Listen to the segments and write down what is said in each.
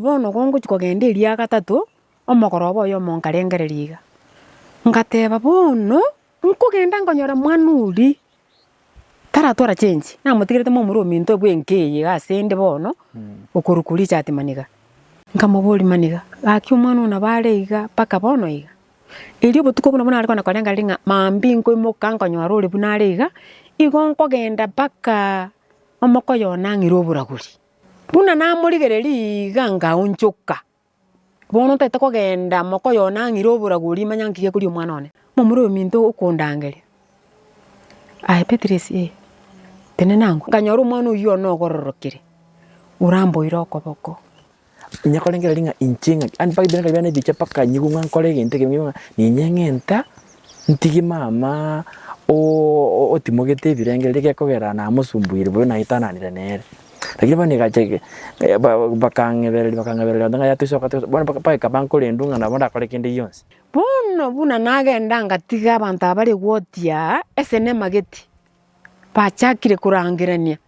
Bono gongochia kogenda eria gatato, omogoroba oyomo nkarengereria iga, ngateba, Bono nkogenda nkonyore mwana oria taratwara chensi, namotigerete momura ominto bw'enka eye iga ase 'nde bono, okorokwa richati maniga. Nkamoboria, Maniga, gaki omwana oo nabo are iga mpaka bono iga? Erio obotuko buna nare kogenda korengereria ng'a mambia nkoimoka nkonyora ore buna are iga, igo nkogenda mpaka omoko oye onang'ire oboragori. Buna namorigereria iga ngaonchoka. Bono ntaete kogenda mwaka oyo nang'ire oborabu oria manya nki gekoria omwana one. Momorominto okondangeria, Aye Beatrice ee, tenena angwe. Nkanyora omwana oyio one ogororokire, oramboire okoboko. Onye korengereria ng'a inche ng'ake, and mpaka ebinto biane bikabe bianebiche mpaka nyigwe ng'a nkore egento ekebe ng'a ninyeng'enta. Ntigi mama oo otimogete ebirengererio gekogera namosumbuire bobe naitananire nere. Lakini bono egacha bakang'ebereria bakang'ebereria onde ng'a yaya toisoka toisoka bono bagika bankorendwe ng'a nabo ndakore kende gionsi. Bono buna nagenda ngatiga abanto aba rigoti aa esenema geti, bachakire korangerania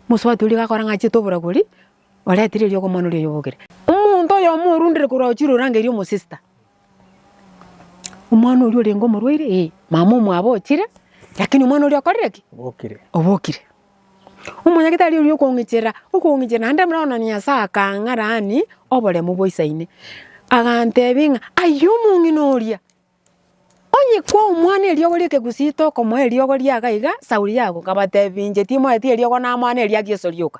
mosubati oria gakora ng'a achiete oboragori oretire erio okomoana oria oyobokire. Omonto oyomo orundire korwa ochire orangeirie omosista. Omwana oria orenge omorwaire? Ee. Mama omwabo ochire, lakini omwana oria okorire ki? Obokire. Obokire. Omonyagetari oria okong'icherera, okong'icherera, naende buna bono Nyasae akang'arani oboremu boisa ime, agantebia ng'a aye omong'ina oria, onye kwa omwana eriogo ri'ekegusii tokomoa eriogo riaga iga, sauri yago. Nkabatebia inche timoeti eriogo namoa neriageso rioka.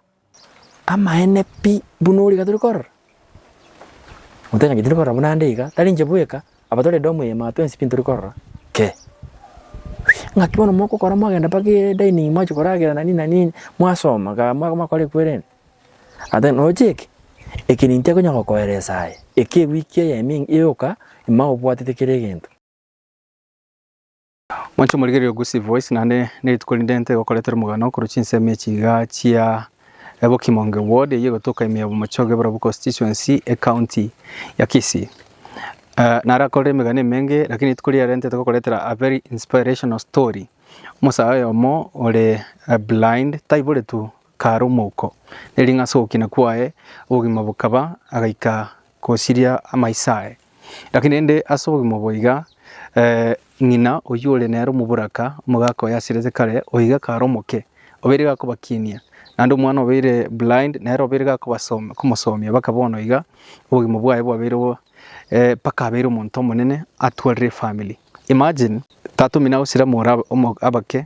Amaene pi buna ore iga tore korora, motachangeti tore korora buna ande iga, tari inche bweka, aba tore edomu eyemo aba twensi pi ntori korora kee. Ng'aki bono mogokora mwagenda mpaka edaining'i mwachia koragera na nini na nini, mwasoma ga mwa- mwakora ekwerende, ata noche eke, eke ninto ekonya gokoeresa aye, eke ewiki eyemo yoka, ime obwatete kera egento. Mwanche omorigererio Gusii Voice naende nerituko rinde ntigokoretera omogano korwa chinsemo echi iga chia Bokimonge Ward eyio egotoka ime ya Bomochoge Eburabwo Constituency ecounty ya Kisii. Eh, nare akorire emegano emenge lakini rituko riarero ntigokoretera a very inspirational story. Omosae oyomo ore eh, blind taiboretu kare omouko. Nering'asa ogokina kwaye obogima bokaba agaika gosiria amaiso aye. Gaki naende ase obogima obo iga, ng'ina oyio ore nere omoboraka, omogaka oye asirete kare, oyo iga kare omoke, obeire gakobakinia, naende omwana obeire blind, nere obeire gakobasomia, komosomia, mpaka bono iga obogima bwaye bwabeire bo, mpaka abeire omonto omonene atwarire efamiri. Imagine, tata omino agosira more abake,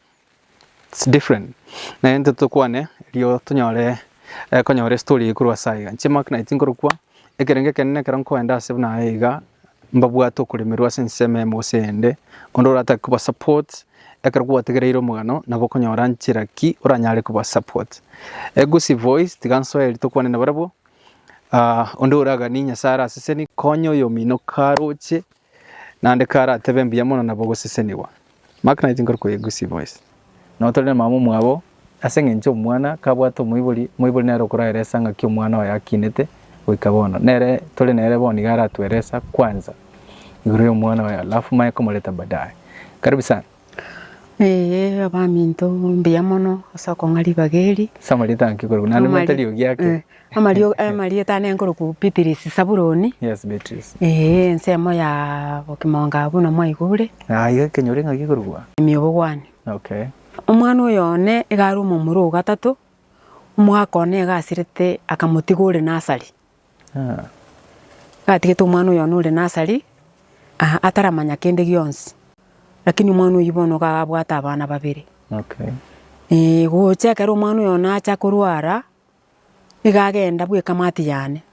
It's different naende intwe tokwane erio tonyore konyora estory eye korwa ase aiga. Inche mark naye tinkorokwa, ekerengo ekenene ekero nkoenda ase buna aye iga, mbabwate okoremerwa ase ensemo eyemo gose eyende, onde oratake koba support ekero kwategereire omogano nabo okonyora nchera ki oranyare koba support. Egusi voice tiga nsoe erio tokwane nabarabwo, onde oraganie Nyasae araseseni, konya oyomino karoche. Naende karatebe mbuya mono nabo ogosesenigwa. Mark 19 korokwa egusi boys. Nao tore namama omwabo, ase engencho omwana kabwate omoibori, omoibori nere okoraeresa ng'aki omwana oye akinete goika bono. Nere tore nere bono iga aratueresa kwanza igoro y'omwana oye alafu manye komoreta badaye. Karibu sana. Ee, abaminto, mbuya mono ase okong'a ribaga eri. Ase amarieta anki korokwa, naende Amari- mwete eriogi ake. eh, amario- amarieta ane nkorokwa Beatrice Saburoni, Yes, Beatrice. ee, ensemo ya Bokimonga buna mwaigure, Ah, iga kenyore ng'aki korokwa? Emiobogwani. Okay. Omwana oyo one iga are omomura ogatato, omwaka one iga asirete akamotiga ore nasari. Gatigete omwana oyo one ore nasari aa ataramanya kende gionsi, rakini omwana oyio bono iga abwate abana babere. Ee gocha ekero omwana oyo nacha korwara, iga agenda bwa ekamati yane,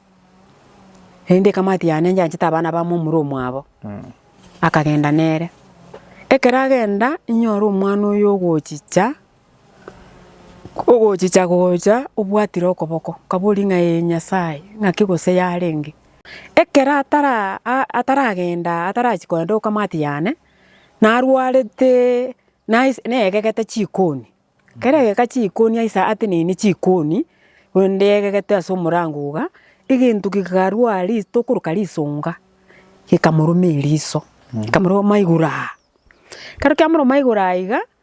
rende ekamati yane inche anchete abana bamo omura omwabo, akagenda nere. Ekero agenda inyore omwana oyo ogochicha. Ogochicha gocha obwatire okoboko, nkaboria ng'a ee Nyasae, ng'aki gose yarenge? Ekero atara ataragenda atarachia kogenda okamati yane, narwarete nais naegegete chikoni, ekero aegeka chikoni aisa atenenie chikoni, korende aegegete ase omorango iga, egento kegarwa ris tokoroka risonga, gekamoruma eriso, ekamoruma igoro aa. Ekero kiamoroma igoro aa iga.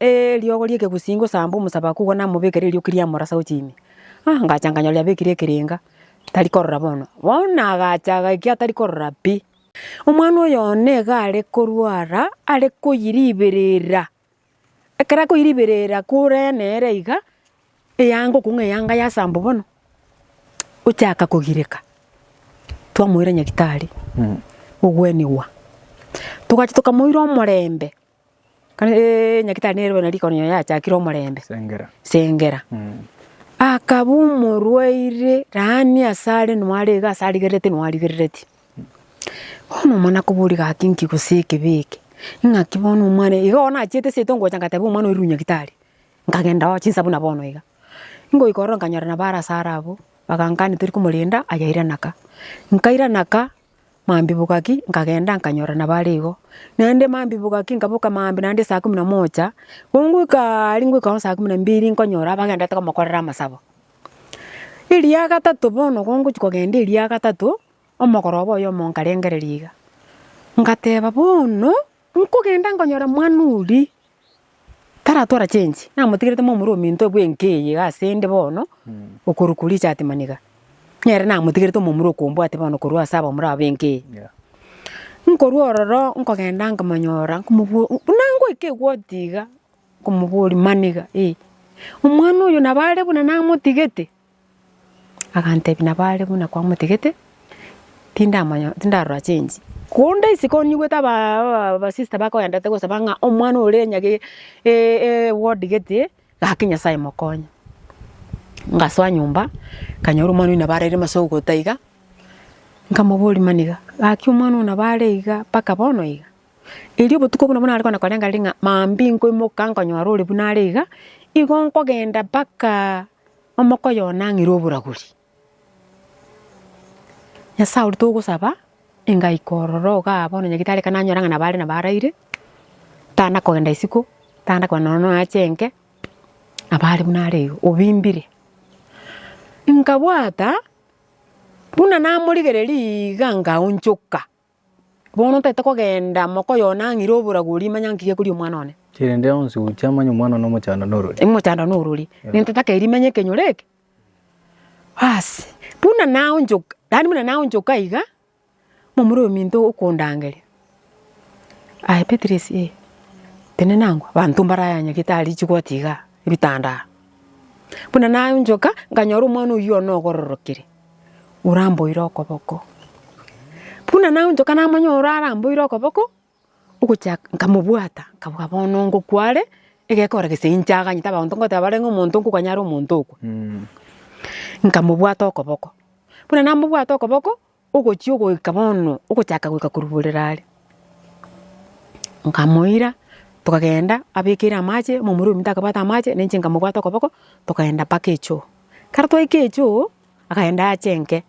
Eriogo ri'ekegusii ngosamba omosaba akogwa namobeke ririoki riamorasa gochia ime. Ah, ngacha nkanyora riabekire ekerenga, tari korora bono. Bono nagacha agaikio atari korora pi. Omwana oyo one iga are korwara, are koyiriberera. Ekero akoyiriberera kore nere iga, eyanga okong'u eyanga yasambwa bono, ochaka kogireka. Twamoira nyagitari, ogwenigwa. Togachia tokamoira omorembe. Kare Nyagetari nerobe na rikono ere yachakire omorembe, Sengera, akaba omorwaire laania ase are noare iga ase arigerereti noarigerereti. Bono omwana koboria gaki nki gose ekebe eke, ng'aki bono omwana oyo, igo nachiete seito ngocha ngateba omwana oirwe Nyagetari, nkagenda oo chinsabu na bono iga. Ngoika ororo nkanyora nabo are ase are abwo, bagankania tori komorenda, ayairanaka. Nkairana ka. Maambibwa gaki nkagenda nkanyora nabare igo. Naende maambibwa gaki nkaboka maambia naende saa kumi na moja, gongoika aria ngoikao saa kumi na mbili nkonyora abagendete komokorera amasabo. Erio ya gatato bono gongochia kogenda erio ya gatato, omogoroba oyomo nkarengereria iga, ngateba bono, nkogenda nkonyora mwana oria Taratwara change, namotigerete momura ominto bw'enka eye iga ase 'nde bono, okorwa koria echaati maniga, nere namotigerete omomura okombwate bono korwa ase abamura aba b'enka eye. Nkorwa ororo nkogenda nkamonyora nkomobo buna ngoika egoti iga, nkomoboria, Maniga, ee, omwana oyo nabo are buna namotigete. Agantebia, Nabo are buna kwamotigete, tindamanya, tindarora chensi. Konde isiko nigwete aba abasista bakoendete gosaba ng'a omwana ore nyage e- ewodi gete, gaki Nyasaye mokonye. Ngasoa nyomba, nkanyora omwana oyio nabo are ase ogokota iga, nkamoboria maniga, gaki omwana oyio nabo are iga mpaka bono iga? Erio obotuko obwo nabo nare kogenda korenga ring'a maambia nkoimoka nkonyora ore buna are iga, igo nkogenda mpaka. Omoko oyonang'ire oboragori. Nyasae oria togosaba engaika ororo igaa bono nyagitari ekero nanyora ng'a nabo are nabo araire, tana kogenda isiko, tana kogenda nonya nonya ache enke, nabo are buna are igo obimbire. Nkabwata buna namorigereria igaa nkaonchoka. Bono ntaete kogenda moko oyo nang'ire oboragori, manya nki gekoria omwana one. Erinde onsi oche amanye omwana one omochando norori. Omochando norori. Ntaete akeria manya ekenyoro eke. Baasi, buna naonchoka, yaani buna naonchoka iga, momura ominto okondangeria, aye Beatrice eh, tenena angwe, abanto mbarayanyagete aria chigoti igaa, ebitanda aa. Buna naonchoka, nkanyora omwana oyio one ogororokire. oramboire okoboko. Buna naonchoka namanya ore aramboire okoboko, ogochia nkamobwata, nkaboa bono ngokwa are, egekora gese inche aganyete abanto ngoteba bare ng'a omonto nkoganya are omonto okwa. Nkamobwata okoboko, buna namobwate okoboko, ogochia ogoika bono, ogochaka goika koruborera are, nkamoira, tokagenda abekeire amache, omomura omito akabwate amache, nainche nkamobwata okoboko, tokaenda mpaka echoo. Kare twaika echoo akaenda ache enke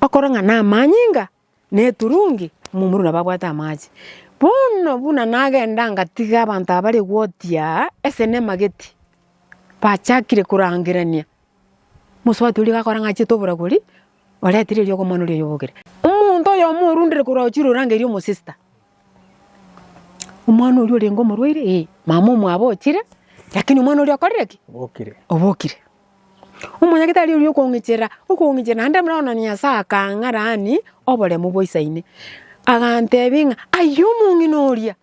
okora ng'a namanyinga na eturungi momura nabo abwate amache. Bono buna nagenda ngatiga abanto aba bare gotia ase nemageti bachakire korangerania mosubati oria gakora ng'a achiete oboragori oretire eriogo omwana oria oyobokire. Omonto oyomo orundire korwa ochire orangeirie omosista. Omwana oria orenge omorwaire? Ee. Mama omwabo ochire, lakini omwana oria okorire ki? Obokire. Obokire. Omonyagetari oria okong'icherera, okong'icherera, naende buna bono Nyasae akang'arani oboremu boisa ime, agantebia ng'a aye omong'ina oria,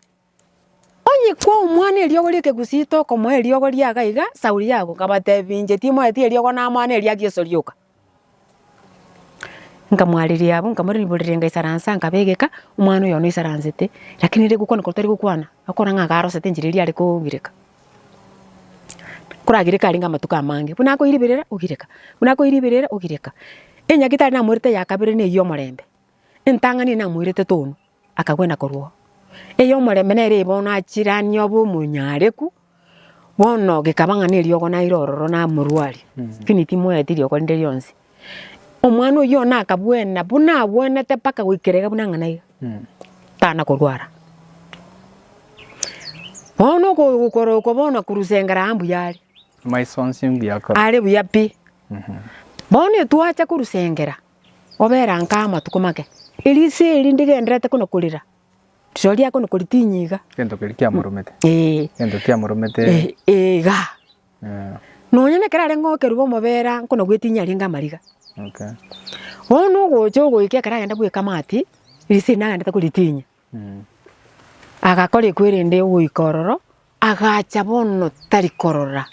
onye kwa omwana eriogo ri'ekegusii tokomoa eriogo riaga iga, sauri yago. Nkabatebia inche timoeti eriogo namoa neriageso rioka. Nkamwariria abwo, nkamorera riboria ngaisaransa, nkabegeka, omwana oyo bono oisaransete, rakini ere gokwana koria tari gokwana, akore ng'a iga arosete enchera eria are kogireka. Koragireka arenge amatuko amange, buna akoiriberera, ogireka, buna akoiriberera, ogireka. Enyagera etari namoirete ya kabere na eyio omorembe, entang'ani eye namoirete tonu, akagwena korwa oo. Eyio omorembe nere bono achiranie obe omonyareku, Bono gekaba ng'a neriogo naire ororo namorwari, lakini timoeti riogo rinde rionsi. Omwana oyio bono akabwena buna abwenete mpaka goikera iga buna ng'a naiga, tana korwara. Bono oko- okorokwa bono korusengera aa mbuya are, Amaiso onsi mbuya akoro. are buya pi. Bono etwacha korusengera, obera nkaa amatuko make, erisa eri ndigenderete buna korera, Rirorio riago nokoritinyia iga. Egento keria kiamoromete. Ee. Egento kiamoromete. Ee, ee iga. Ee. Nonya nekero are ng'okerwa omobera nkona gwetinyia arenge amariga. Okay. Bono nogocha ogoika ekero agenda goika amaati, riise riria agendete koritinyia. Mm. Agakora ekwe rende ogoika ororo, agacha bono tari korora.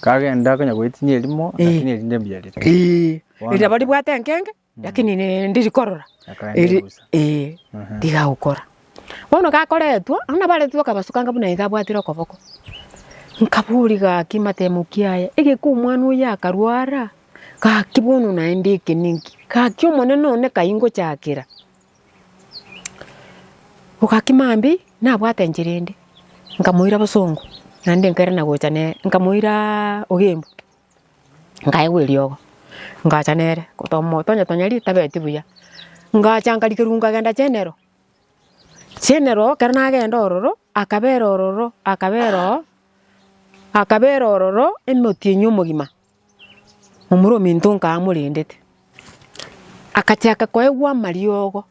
Kagenda akanya goetinyia erimo, Ee. lakini erinde mbiarire. Ee. Bono. Rirorio ribwate enkenge. Lakini rende rikorora Akaenda eri- egusa. eh, rigagokora bono gakoretwe abwo nabaretwe akabasukanga buna iga abwatire okoboko nkaboria gaki matemoki aya egeka omwana oyo akarwara gaki bono naende eke ninki gaki omonene one kai ngochakera Bo gaki mambia ii nabwate enchera ende nkamoira bosongo naende nkairana gocha nere nkamoira ogembe nkaegwa eriogo, ngacha nere omoto onye tonya ritabeti buya, ngacha nkarikerwa nkagenda chenero, chenero ekero nagenda ororo, akabera ororo, akabera oo, akabera ororo emotienyi omogima, omoro ominto nkaaa amorendete, akachaka koegwa amariogo,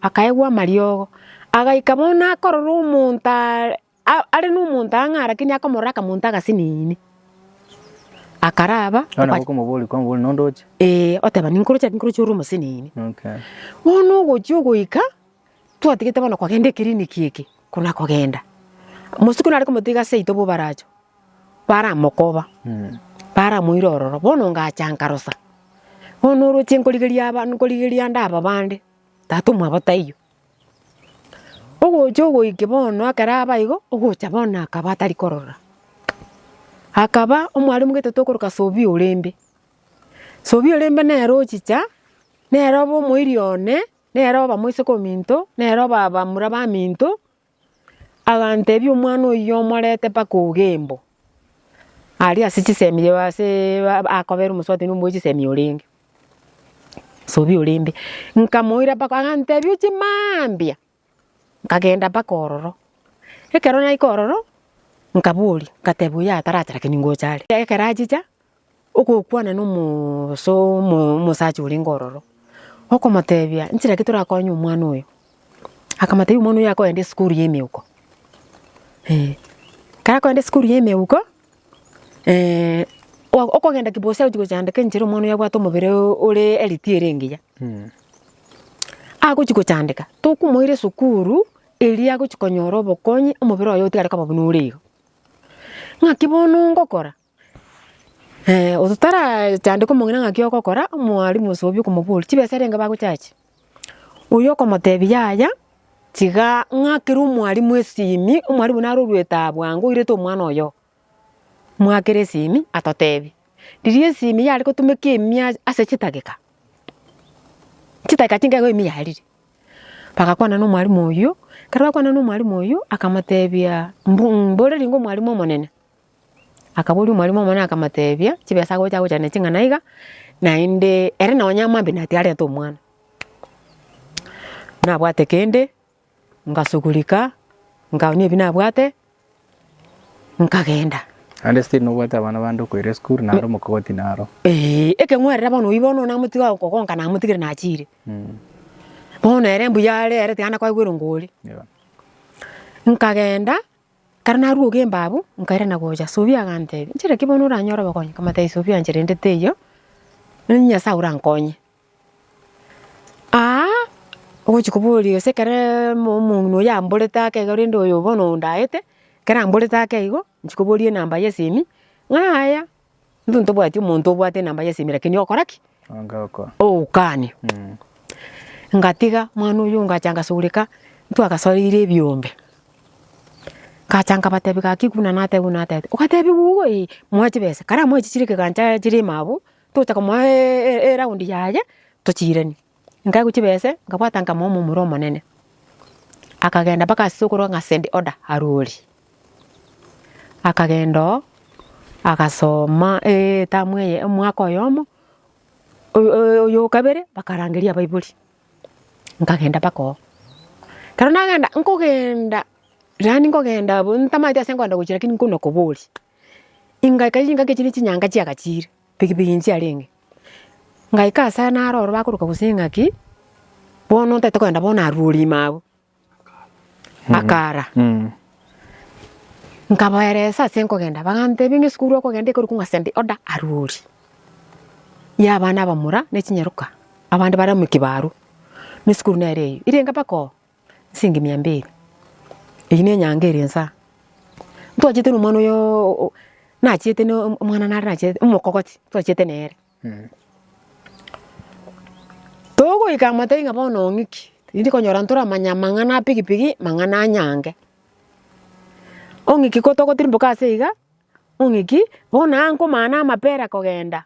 akaegwa amariogo, agaika bono akorora omonto are. Are nomonto ang'e arakini akamorora akamonto agasinini. Akaraba. Nonya gokomoboria kwa mobori nonde oche. Ee, oteba ninkoroche ninkoroche ore omosinini. Okay. Bono ogochia ogoika twatigete bono kogenda eclinic eke kona kogenda. Mosiko nare komotiga seito bobaracho baramokoba. Mm. Baramoira ororo bono ngacha nkarosa. Bono oroche nkorigeria aba nkorigeria ande aba bande tata omwabo taiyo. Ogocha ogoika bono ekero abe aigo, ogocha bono akaba atari korora. Akaba omwarimu getato okoroka Sobia orende. Sobia orende nere ochicha, nere obe omoiri one, nere obe omoiseke ominto, nere obe abamura baminto. Aganteebia, Omwana oyio omorete mpaka ogembo, aria ase chisemi ase akobera omosubati omoe chisemi orenge, Nsobi ore imbe. Nkamoira mpaka aganteebia oche mambia, nkagenda mpaka ororo. Ekero naika ororo, nkaboria, nkateebia oyo ataraache lakini ngocha are. Ekero achicha, Ogokwana nomosacha orenge ororo, okomotebia nchera ki torakonye omwana oyo. Akamotebia omwana oyo akoenda esukuru ya emeuko. Ekero akoenda esukuru ya emeuko, okogenda kibosa ogochia kochandeka enchera omwana oyo abwate omobere ore healthy ere engiya. Agochia kochandeka, tokomoira esukuru eria agochia konyora obokonyi omobere oye otigare koba buna ore igo. Ng'aki bono ngokora, Ototarachandeka omong'ina ng'aki ogokora, omwalimu ase obi okomoboria, chibesa rende bagochache? Oyio okomotebia yaya, tiga ng'akere omwalimu esimi, omwalimu naro oruete aa bwango oirete omwana oyogo, mwakere esimi atotebie. Riria esimi yare gotumeka emia ase chidageka, chidageka chinke iga ime yarire, bagakwana na omwalimu oyio, ekero bakwanire na omwalimu oyio, akamotebia, mbu mbore ring'o omwalimu omonene. Akaboria omorimo omonene akamoteebia, Chibesa agocha agocha ne ching'ana iga, naende ere nonya amambe na tiarete omwana. Nabwate kende, ngasugurika, nkaoonia ebi nabwate, nkagenda. Naende still nobwate abana bande okoira esukuru naro omokogoti naro. Eeh, ekeng'werere bono oyio bono namotiga okogonka namotigire nachiire. Mm. Bono ere mbuya are ere tiga ande koigwa erongori. Yebo. Nkagenda, Kare naruoga embabu, nkairana gocha, Subio aganteebia, 'Inchera ki bono oranyore obokonyi? Nkamotebia, 'Subio anche rende teiyo, onye Nyasae orankonye. Aa ogochia koboria gose ekero omong'ina oyio amborete ake iga rende oyo bono ondaete, ekero amborete ake igo, inchia koboria enamba y'esimi, ng'a yaya. Intwe ntobwati omonto obwate enamba y'esimi lakini ogokora ki? Ogokaania. Ngatiga mwana oyio ngacha ngasureka, ntwagasoreire ebiombe. Ngacha nkabatebia gaki buna natete buna natete. Ogatebia gogo ee, moe chibesa. Kare amoe chichire ekegancha chire ime abwo, tocha komoa eround yaye, tochiiranie. Nkaigwa chibese, nkabwata nkamoa omomura omonene. Akagenda mpaka ase okorwa ng'a Send Order Arwori. Akagenda oo, agasoma etamu eye omwaka oyomo, oyo o kabere bakarangeria abaibori. Nkagenda mpaka oo. Ekero nagenda, nkogenda, yaani nkogenda abwo ntamaete ase nkoenda gochia lakini nkoinakoboria. Ingaika ingakechi ne chinyanga chiagachiire. Pigipigi nchiarenge. Ngaika asare naroro bakoroka gose eng'aki, bono ntaete kogenda bono aruori ime abwo. Akara. Nkabaeresa ase nkogenda, bagantebia ng'a esukuru okogenda ekorokwa ng'a send order aruori, ya abana abamura ne chinyaroka, abande bare amo ekibaru, ne esukuru nere eyio. Irenge mpaka oo. Nsingi mia mbili. Eyio nenyanga ere ensa. Ntwachete na omwana oyo nachiete na omwana nare nachiete omokogoti twachiete nere. Togoika amatai ng'a bono ong'iki, rinde konyora ntore amanya amang'ana a pigipigi, amang'ana a nyange. Ong'iki kotogotire mboka ase iga, ong'iki bono aa nkomana amapera kogenda.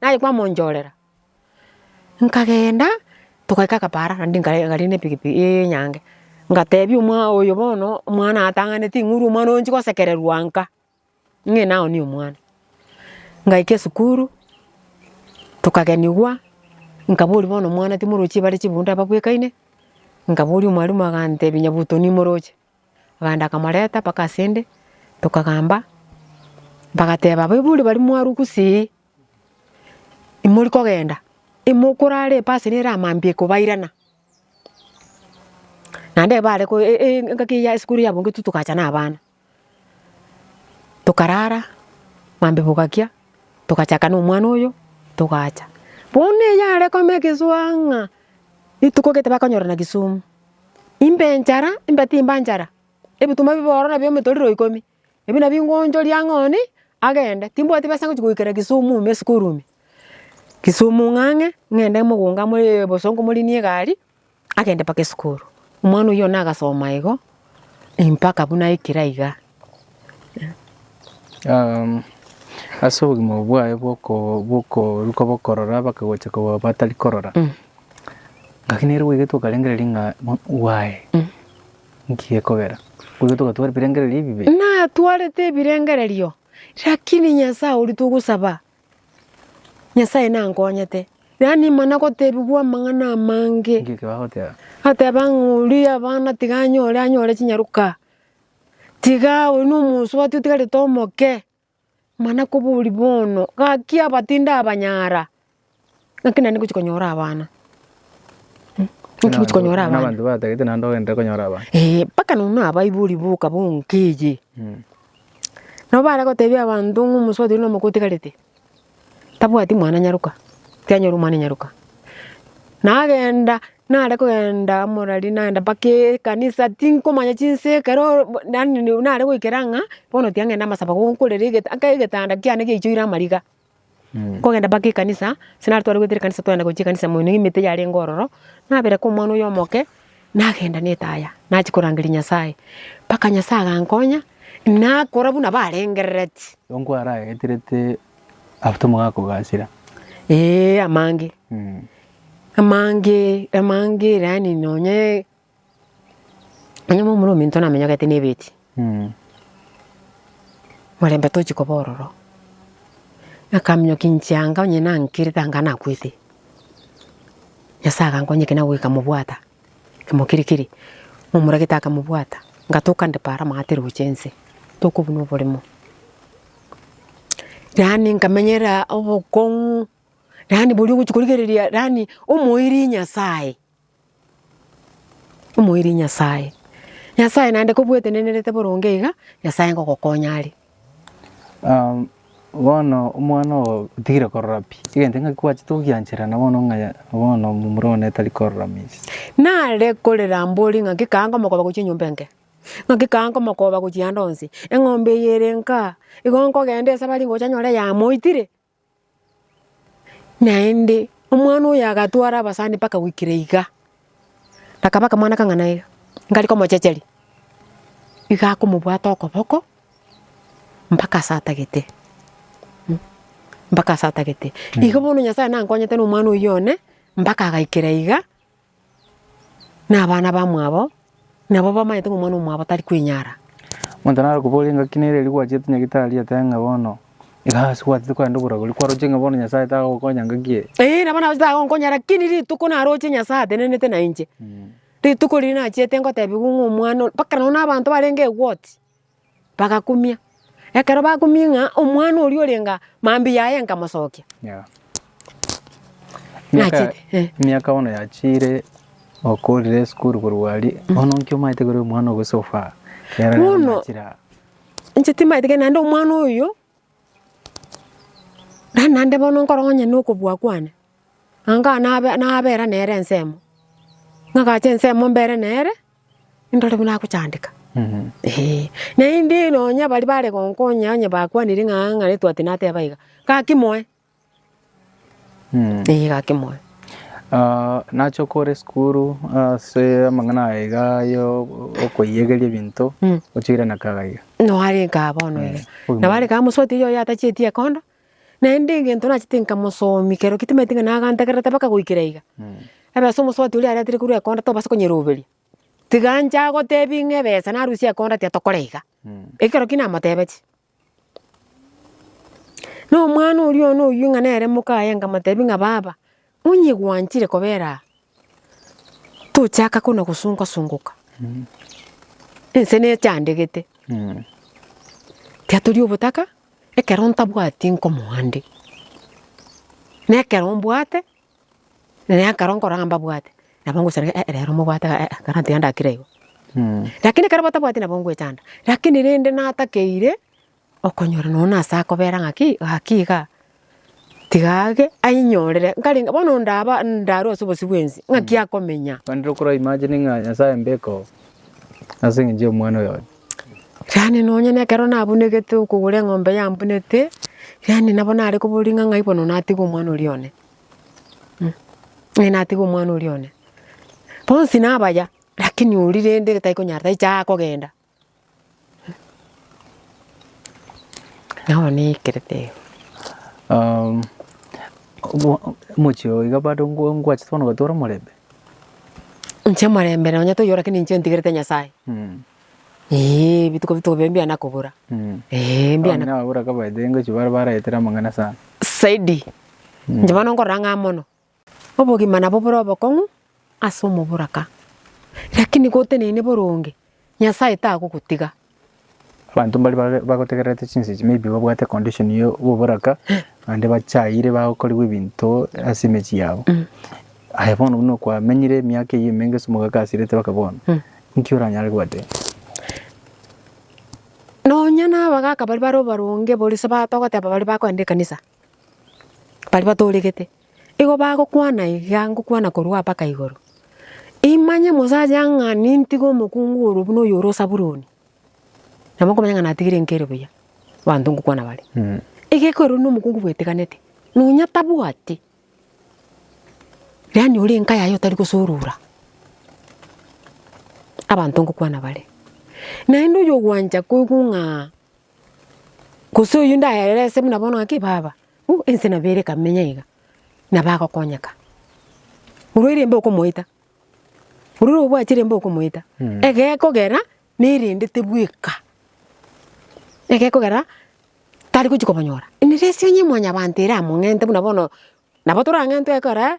Naye kwamonchorera, nkagenda togaika Kampala naende nkagenda na epikipiki enyange, ngatebia oyo bono omwana atang'aneti ing'uru omwana oyo ochia kosekererwa nka, ng'ee nao nigo omwana. Ngaika esukuru, tokagenigwa, nkaboria bono omwana timorochi bare chibunde ababwekaine, nkaboria omwalimu agantebia nyabuto nimoroche. Abande akamoreta mpaka asende, tokagamba, bagateba, Abaibori baria mwarugusirie, imori kogenda, imokorara epasi nere amambia ekobairana. Naende ebare ko- e- e- engaki eyio ya esukuru yabungetwe togacha na abana. Tokarara, mambia bogakia, togachaka na omwana oyo, togacha. Bono eyare kome egesuaa ng'a rituko gete bakonyorana Kisumu. Imbe enchara, imbe timba nchara, ebituma bibe ororo bi'omotorero ikomi, ebi nabio ngoonchoria ng'a one agende, timbwati besa ngochia goikera Kisumu ime esukuru ime, Kisumu ng'ang'e ng'ende mogoka more boso nkomorinie egari agende mpaka esukuru. Omwana oyio nagasoma igo mpaka buna ekira iga. Ase obogima obo bwaye bw'okoruka bokorora mpaka gocha koba batari korora, ngaki nere bwegetwe okarengereria ng'a why? Nki gekogera? Bwegetwe ogatwara ebirengererio ebibe? Natwarete ebirengererio, rakini Nyasae oria togosaba, Nyasae nankonyete. Yaani mana gotebigwa amang'ana amange. Nki eke bagoteba? Agoteba ng'a oria abana tiga anyore, anyore chinyaroka. Tiga oyo nomonso obatire otigarete omoke, mana kobori bono, gaki aba tindabanyara, ng'aki naende ngochi konyora abana. Ng'aki ngochi konyora abana. Abanto batagete naende ogenderere konyora abana. Eeh, mpaka nonye nabaibori boka bonka eye. Nabo bare gotebia abanto ng'a omonso obatire nomoke otigarete. Tabwati mwana nyaruka, tianyora omwana nyaruka. Nagenda nare kogenda amo nari nagenda mpaka ekanisa tinkomanya chinsa ekero yaani nare goikera ng'a bono tiga ng'ende amasaba ko nkorere egete aka egetanda kiane giaichoire amariga. Nkogenda mpaka ekanisa, ase naretware goetera ekanisa twagenda gochia ekanisa ime na emete yarenge ororo, nabereka omwana oyo omoke. Nagenda netaya, nachia korangeria Nyasae, mpaka Nyasae agankonya, nakora buna barengerereti. Ongo araeterete after mogakogachera. Ee, amange. Amange, amange, yaani nonye, nonye momura ominto namenyogete nebeti. Morembe tochi koba ororo. Akaminyokia inche anga onye nankerete anga nakwete. Nyasae agankonya ekero nagoika mobwata, kemo kere kere, momoragete aka mobwata, ngatoka nde para amagati roche inse, tokobuna oboremo. Yaani nkamenyera obokong'u, yaani boria ogochi korigereria yaani omoiri Nyasae. Omoerio Nyasae. Nyasae naende kobwetenenerete boronge iga, Nyasae ngogokonya are. Um, bono omwana ogo otigire korora pi egento ng'aki gwachete gogianchera na bono ng'a bono momura one tari korora minsi Nare korera mbori ng'aki kaa nkomokoba gochia enyomba enke. Ng'aki kaa nkomokoba gochia ande onsi. Eng'ombe eye ere nka. Igo nkogenda ase bare ngocha nyore yamoitire. Naende omwana oyo agatwara abasani mpaka goikera iga, akaba akamwana akang'ana iga, nkare komochecheria, iga akomobwata okoboko mpaka ase atagete, mpaka ase atagete. Igo bono Nyasae nankonyete na omwana oyio one, mpaka agaikera iga. na abana bamwabo, nabo bamanyete ng'a omwana omwabo tari kwenyara. Omonto naro koboria engaki nere erio gwachete Nyagitari atebe ng'a bono iga ase gwatete kogenda oboragori kwaroche ng'a bono Nyasae tagokonya engaki eye. Eeh nabo naroche tagonkonya lakini rituko naroche Nyasae atenenete nainche. Rituko riria nachiete ngotebiwa ng'a omwana ore, mpaka nonye na abanto barenge egwoti. Bagakumia. Ekero bakumia ng'a omwana oria orenga mambia yaye nkamosokia. Yeah. Miaka, Nachire, eh. miaka bono yachire okorire esukuru korwa aria bono nki omaete kore omwana ogo so far Era rero Bono- nachire aa. Inche timaete kende naende omwana oyo rani naende bono nkoro onye na okobua kwane. Anga nabe nabera nere ensemo. Nagache ensemo mbere nere Indore buna agochandeka. Ee, naende nonya baria bare gonkonya onye bakwanire ng'a ng'a netwate nateba iga, gaki moe. Ee, gaki moe. Ah, nache okore esukuru ase amang'ana aye iga yo okoiyegeria ebinto Mm. ochiire na kaga iga Noare nkaa bono iga. Oyo Nabare kaa mosubati oyio oyo atacheti ekondo, Naende egento nachete nkamosomia ekero tamanyeti ng'a nagantegererete mpaka goikera iga. Ebe ase omosubati oria aretire korwa ekonda tobasa konyeroberia. Tiga nche agotebie ng'a ebesa narusia ekonda tiga tokora iga. Ekero ki namotebetie. Na omwana oria one oyio ng'a nere moka aye nkamotebia ng'a baba. Onye gwanchire kobera aa, tochaka kona gosunga-sungoka. Ense nechandegete. Tiatori obotaka ekero ntabwati nkomoa nde. Nekero mbwate, nekero nkora ng'a mbabwate, nabo ngosaria ng'a eh rero mobwate eh eh kara tiga ndakire igo. Lakini ekero batabwati nabo ngwechanda, lakini rende natakeire Okonyora nonya na ase akobera ng'aki, gaki iga, tiga age ainyorere, nkarenge bono ndaba ndarwe ase obosio bw'ense, ng'aki akomenya? Naende okora imagine ng'a Nyasae mbekoo ase eng'encho y'omwana oyo one. Yaani nonya na ekero nabunegete okogora eng'ombe yambunete, yaani nabo nare koboria ng'a ng'ai bono natiga omwana oria one. Ng'ai natiga omwana oria one. Bonsi nabaya, lakini oria rende tari konyara taicha kogenda. Nao naikerete igo. Um, omo- omochie oyo iga bado ngwa- ngwachete bono gotora omorembe Inche omorembe nonya toyora lakini inche ntigerete Nyasae. Mm, Ee, bituko bituko bia mbiana kobura. mm. Ee, Abang'ina mbiana ababura kabaete ngochia bare baraetere amang'ana sana saidi. Inche bono nkorora ng'a mono. Obogima nabo bore obokong'u ase omoboraka, lakini goteneine boronge, Nyasae tagogotiga. Abanto mbaria bagotegererete chinsa echi maybe babwate condition ya oboboraka naende bachaire bakorigwa ebinto ase emechie yabo. Aye bono buna kwamenyire emiaka eyio emenge ase omogaka asirete mpaka bono, nki oranyare gobatebia? Nonya na abagaka baria bare abaronge boria ase batogoteba baria bakoenda ekanisa, Baria batooregete, igo bagokwana iga ngokwana korwa mpaka igoro, imanye mosacha ng'a nintige omokungu oro buna oyo ore o Sabuloni, nabo nkomanya ng'a natigire nkere buya abanto ngokwana bare. Iga ekorwa na omokungu bweteganete, nonya tabwati, yaani ore enka yaye otari gosorora abanto ngokwana bare. Naende oyogwancha koigwa ng'a. Gose oyio ndaerese buna bono ng'aki baba, uh ense nabo ere ekamenya iga, nabo agokonyeka. Orwo erembe okomoita, ororo obwati erembe okomoita, egekogera na erende tebweka, egekogera tari gochi kobonyora. Emereso enye mwanyabanto eramong'ente buna bono, nabo torang'entwe ekero aa.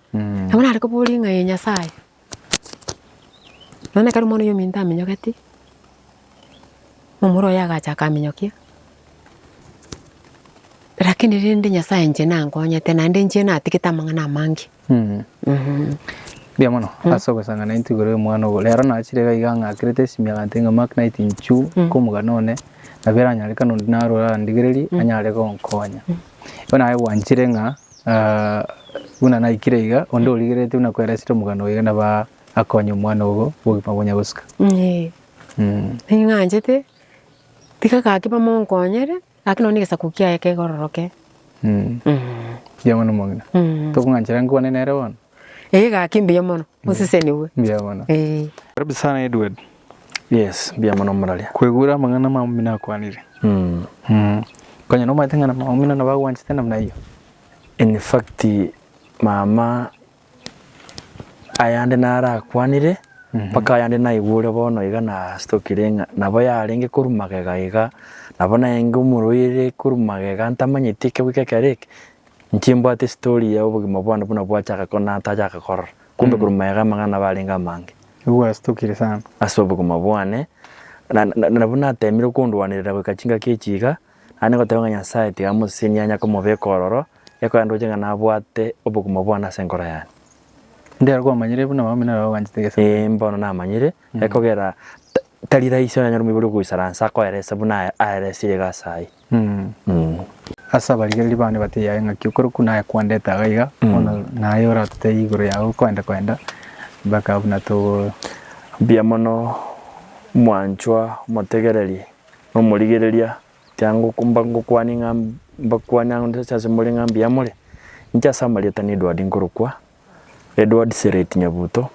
Nabo nare koboria ng'a ee Nyasae, nonya ekero omwana oyio ominto aminyogetie, omoro oye agacha akaminyokia, rakini rende Nyasae inche nankonyete naende inche natigete amang'ana amange. Mbuya mono ase ogosang'ana intwe igoro y'omwana ogo. Rero nachire iga iga ang'akerete esimi agantebi ng'a Mark naeti inchu nkomogana one nabo eranyarekana onde narwo arandigererie anyare gonkonya. Igo naye gwanchire ng'a Aa, buna naikire iga, onde origereretie buna kweresire omogano oyo iga naba akonye omwana ogo bw'obogima bonya gosika. Ee, Mm. ning'anchete, tiga gaki bamonkonyere, gaki nonya negesaku kiaye kekororoke. Mm. Mm. Mbuya mono omong'ina. Mm. Tokong'anchera nkwane nere bono? Ee, gaki mbuya mono, osesenigwe. Mbuya mono. Ee. Karibu sana Edward. Yes, mbuya mono moraria. Kwegwera amang'ana amaomino akwanire. Mm. Konya nomaete ng'ana maomino nabo agwanchete namna hiyo. In fact, mama ayande narakwanire mpaka ayande naigure bono iga nastokire ng'a nabo yarenge korwa magega iga, nabo naenge omoroire korwa magega ntamanyeti ekegwika ekero eke, inche mbwate estory ya obogima bwane buna bwachaka ko natachaka korora. Kumbe korwa mayega amang'ana nabo arenge amange. Nigo gwasitokire sana. Ase obogima bwane, na, na, na nabwo nateemire okondwanerera goika chingaki echi iga, naende ngoteba ng'a Nyasae tiga amosesenie anya komobeka ororo, ekoyandoche ng'a nabwate obogima bwane ase enkoro yane. Ndere kwamanyire buna abamina nabo banchete gese Ee, buna. mbono namanyire, ekogera ta- tari rahisi onye anyore omoibori ogoisaransa akoerese buna ae- aeresirie iga ase aye. Ase abarigereria bane batebie aye ng'aki okorokwa naye kwandete iga iga, bono naye oratotebie igoro yaye okwenda kwenda mpaka abwo buna togo. Mbuya mono mwanchwa omotegereria na omorigereria tia mba ngokwania ng'a mbakwania nse ase more ng'a mbuya more. Inche ase amarieta ne Edward nkorokwa, Edward Sereti Nyabuto,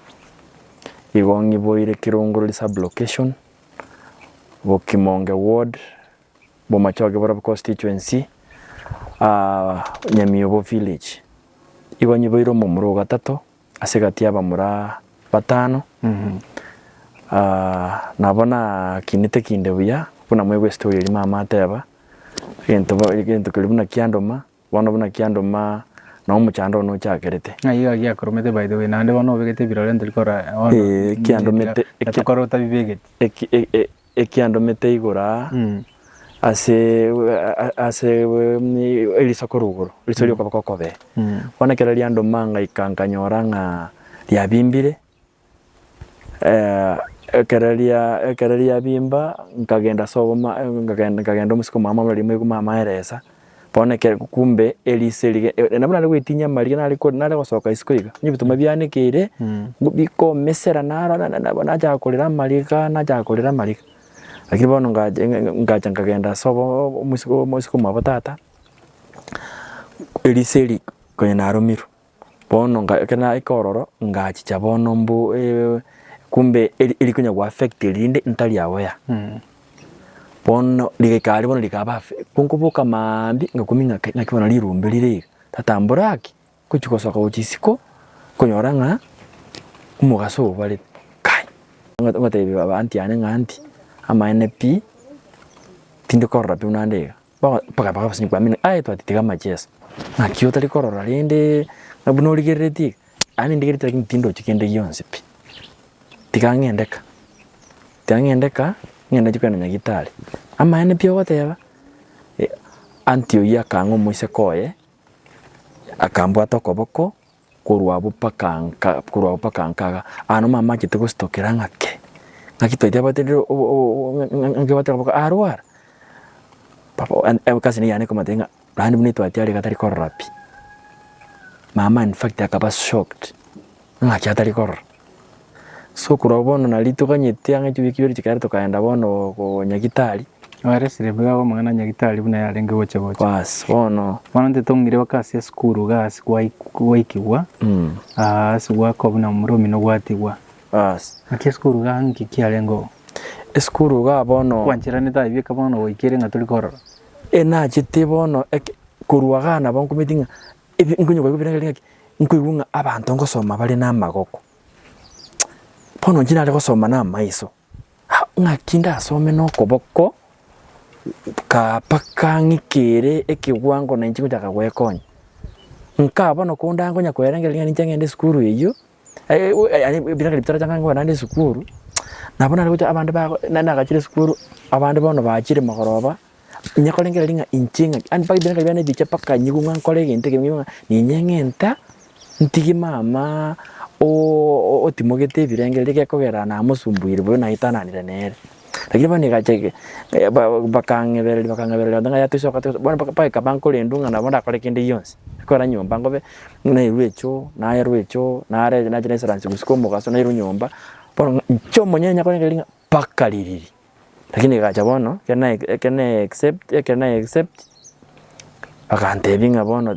igo ng'iboire Kirongori sub location, Bokimonge ward, Bomachoge borobe constituency, Nyamiobo village, igo nyiboire omomura ogatato ase egati y'abamura batano, nabo nakinete kinde buya buna mwaigwa estory eria mama ateba, egento keria buna kiandoma. Bono buna kiandoma na omochando one ochakerete. Ng'ai iga giakoromete by the way, naende bono obegete ebirore ntori kora bono Ee, ekiandomete- na ekia- tokore otabibegeti. eki- e- e- ekiandomete igoro aa Mm. ase a- ase eriso korwa igoro, eriso ri'okoboko okobee. Mm. Bono ekero riandoma ngaika nkanyora ng'a riabimbire. Ekero riabimba nkagenda ase oboma nkagenda omosike omwabo mambia rimuya riku mama eresa bono ekero kumbe erisa eria nabo nare goetinyia amariga nare gosoka isiko iga onye ebituma bianekeire bikomesera naro nachaka korera amariga nachaka korera amariga lakini bono ngacha nkagenda ase omosike omwabo tata erisa eria konya naromirwe. Bono nga ekero naika ororo ngachicha bono mbu eh, kumbe eri- erikonya goaffect eri rinde ntari agwo ya. Bono rigaika aria bono rikaba affe- ekero nkoboka maambia ngakumia ng'aki ng'aki bono rirumbe rire iga, tata mbore aki, ngochi gosoka gochia isiko, nkonyora ng'a omogaso obarete. Kai! Ngo- ngotebia abanti yane ng'a aunty, amaene pi, tindi korora pi buna nde iga. Mpaka bakaba basemi kwamina ng'a aye twatitiga amacheso, naki otari korora rende na buna origereretie iga. Aye nindigereti lakini tindochi kende gionsi pi. Tiga ng'ende ka, tiga ng'ende ka, ng'ende nchie kogenda Nyagitari. Amaene pi ogoteba? Auntie oyio akang'aa omoiseke oye, akambwata okoboko, korwa abwo mpaka nka, korwa abwo mpaka nkaga, aano mamachete gositokera ng'ake, ng'aki twaite abatendereri o- o- o- ng'a- ng'a- ng'ake bateba baka arwara, papa one egasi ne eyane komatebi ng'a naende buna etwati are iga atari korora pi. Mama in fact akaba shocked, ng'aki atari korora. So okorwa bono nari toganyete ang'e chibio chibere chikaera tokaenda bono ko Nyagitari. Nere Siribwe agomong'ana Nyagitari buna yarenge gocha gocha. Baas bono. Bono intwe tong'ire baka ase esukuru iga ase gwaikigwa aa ase gwakwa buna omura omino gwatigwa. Baas. Naki esukuru iga nki kiarenge oo? Esukuru iga bono. Kwancheranete aye bieka bono goikere ng'a tori korora. Ee nachete bono eke korwa iga nabo nkometi ng'a. Ebi nkonyoka goika birangeri ng'aki, nkoigwa ng'a abanto ngosoma bare namagoko, bono inche nare gosoma namaiso, ah ng'aki ndasome nokoboko kaa mpaka ng'ikere ekewango nainche ngochaka gwekonya. Nkaa bono konda nkonya koerangeria ng'a ninche ng'ende esukuru eyio. Ebira kare bitarachanga ngokora naende esukuru, nabo nare gocha abande bago, nare nagachire esukuru, abande bono bachire mogoroba, onye korenge riria ng'a inche ng'a ki, yaani mpaka ebira biane biacha mpaka nyigwe ng'a nkore egento eke, nyigwe ng'a ninye ng'enta ntige mama otimogete ebirengererio, gekogera namosumbuire boyio naitananire nere. Lakini bono egacha eke bakang'ebereria bakang'ebereria gento ng'a toisoka toisoka bono mpaka mpaka ekaba nkorendwa ng'a nabo ndakore kende gionsi. Korwa nyomba nkobe nairwe echoo naerwa echoo nare nache naisransi gusii kwa omogaso nairwe nyomba bono ng'a inche omonyene nyakore kende gionsi mpaka ririri. Lakini egacha bono ekero na except ekero na except bagantebia ng'a bono.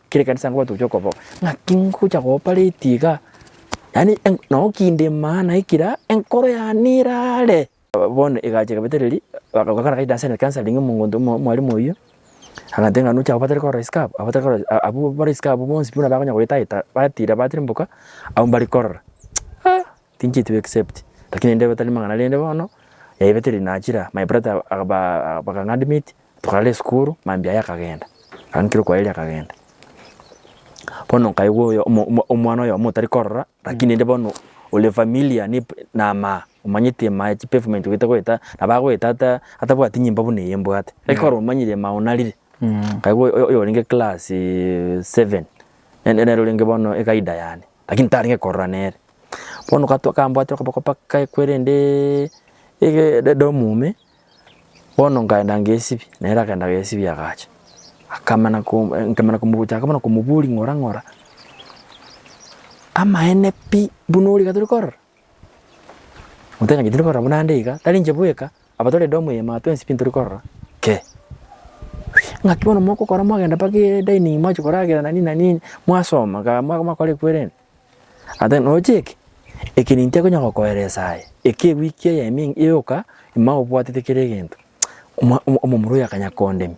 Kera ekanisa nkoba tochia okobo ng'aki ngocha koopareti iga, yaani noo kinde maana ekira enkoro yane erare. Bono egacha egabetereria bakagokera gaita ase counselling omonto omwalimu oyio, agantebia ng'a nocha obatare korora isiko aba, obatare korora isiko aba, abwo bare isiko abwo bonsi buna bakonya goetaeta batira batira mboka, abwo mbare korora. Aah! Thinki to except lakini rende batari mang'ana rende bono yaibete rinachira my brother bakang'admit tokarara esukuru mambia aye akagenda agankire kwaeri akagenda bono nkaigwa oyo omwana oyomo otari korora lakini rende bono ore familiar na amaa omanyete emaa ya chipavement ogete goeta nabo agoeta ata atabwati nyimbo buna eye mbwate eki koro omanyire emaa onarire nkaigwa oyorenge class seven nere orenge bono egaida yane. Lakini tarenge korora nere. Bono gatwa kambwate okoboko paka ekwe rende edomu ime, bono nkaenda ngesibia, nere akagenda agesibia agacha. Akamana nkemana gochaka buna komoboria ng'ora ng'ora, amaene pi buna origa tore korora? Omonto otang'anetie tari korora buna nde iga, tari inche bweka, aba tore edomu eye mambia twensi pi ntori korora kee. Ng'aki bono mogokora mwagenda mpaka edaining mwachia koragera na nini na nini, mwasoma igaa mwakora ekwerende. And then roche eke, eke ninto ekonya gokoeresa aye, eke ewiki eye ime yoka, ime obwatete kera egento, omwa omomura oyo akanya kondemia.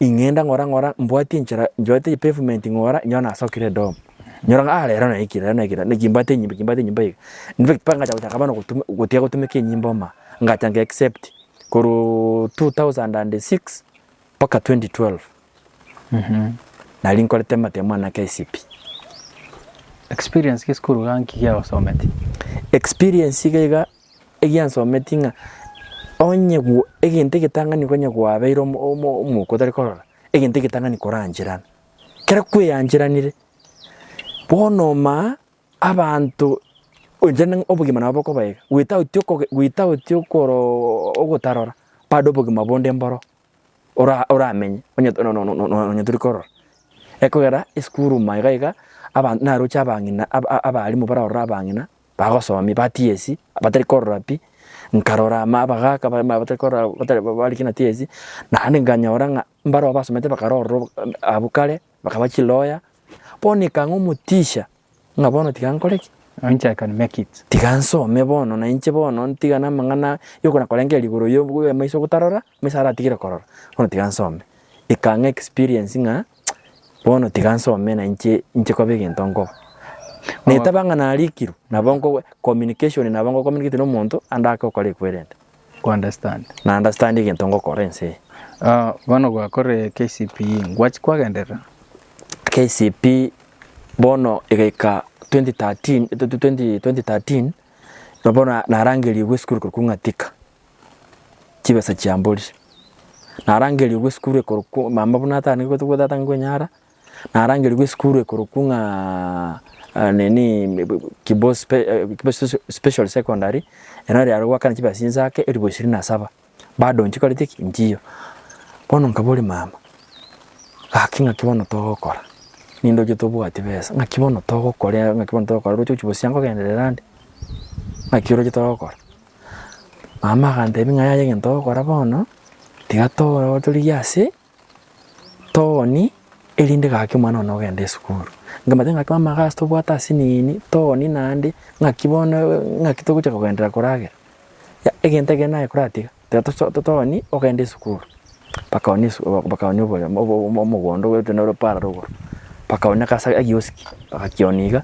ing'enda ng'ora ng'ora mbwati enchera nchwate pavement ng'ora inyora nasokire edomu nyora ng'a ah rero naikire rero naikire naki mbwate enyimba eki mbwate enyimba eye in fact mpaka ngacha gochaka bono gotuma gotiga gotumeka enyimba oma ngacha nge accept korwa 2006 mpaka 2012 nari nkorete amatemo ane a KCPE. Experience ki esukuru iga nki giagosometi? Experience iga iga Ekiagera nsometie ng'a onye egento egetang'ani konya gwabeire omwuka otari korora, egento egetang'ani korancherana. Kero kweyancheranire, bono omaa abanto goetera nang'a obogima nabo bokobaeka, without okoge without okoroo ogotarora bado obogima bonde mboro ora oramenye onye nononono tori korora. Ekogera esukuru ime iga iga abanto naroche abang'ina aba abalimu bararore abang'ina. bagosomia ba TSC abatari korora pi, nkarora abagaka abatari korora bari kina TSC, naende nkanyora ng'a mbarabwo abasomete bakare ororo abwo kare bakaba chilawyer, bono ekang'a omoticha ng'a bono tiga nkore ki? I can make it. Tiga nsome bono na inche bono ntigane amang'ana yokona korengereria igoro y'amaiso gotarora, amaiso aratigire korora, bono tiga nsome. Ekang'a experience ng'a Bono tiga nsome na inche inche koba egento nkoba. Netaba ng'a narikirwe, nabo nko communication nabo nko communicate na omonto ande ake okore ekwerende. Ko understand. Na understand egento ngokora ense eye. Ah, bono gwakorire KCPE, ngwachia kwagenderera? KCPE bono egaika 2013 2013 nabo na- narangerigwe esukuru korokwa Ng'atika. chibesa chia mbori. Narangerigwe esukuru ekorokwo mama buna atanigwe tobwate atangigwe enyara, narangerigwe esukuru ekorokwo ng'a nini Kibos special secondary, erero riarenge goakana chibesa chinsaake elifu ishirini na saba, bado nchikoreti ki? Nchiyo. Bono nkaboria mama, gaki ng'aki bono togokora? Nindoche tobwati besa, ng'aki bono togokora, ng'aki bono togokora? Oroche gochia bosio angogenderera ande? Ng'aki oroche togokora? Mama agantebi ng'a yaya egento ogokora bono, tiga to- torigie ase tooni, erinde gaki omwana one ogende esukuru. Nkamanya ng'aki mama iga ase tobwate ase nini, tooni naende, ng'aki bono ng'aki togocha kogenderera koragera. Egento ekero naye koratiga, tiga toso tooni ogende esukuru. bakaoonia esu bakaoonia obo obo omogondo gwenerete nere parallel igoro, bakaoonia ase ase egioski bagakionia iga,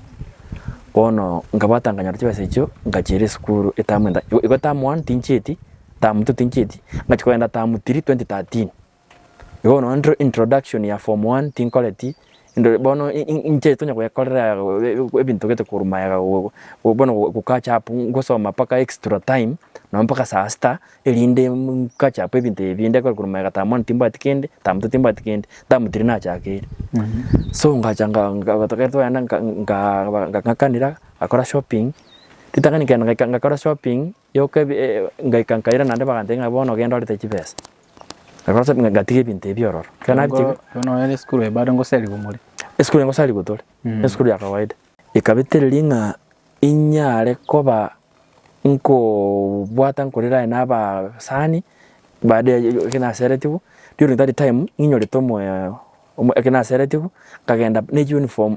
bono nkabwata nkanyora chibesa echio nkachiira esukuru etamu enda igo igo term one tinchieti, term two tinchieti, ngachia kogenda term three twenty thirteen. Igo bono intro introduction ya form one tinkoreti, Indore bono inche tonya gwekorera ebinto gete korwa magega bono gocache up ngosoma mpaka extra time nonya mpaka saa sita erinde ncache up ebinto ebi binde korwa magega taba mono timbwati kende taba moto timbwati kende taba tiri nachakeire. So ngacha ekero twaenda ng'akanera ngakora shopping ritang'ani kenda ngakora shopping yoka ebi ngaika nkaira naende bagantebia ng'a bono genda orete chibesa. Nakorokire ng'a ngatiga ebinto ebi ororo. Ekero Nabo nabitiga, bono nonya esukuru eye bado ngosariwa more. esukuru eye ngosariwa tore, Mm. esukuru ya kawaida. Ekabetereria ng'a inyare koba nkobwata nkorera aye nabasani baada ya ekero naseretigwe, during that time ng'inyorete omoyo omo ekero naseretigwe, nkagenda ne uniform.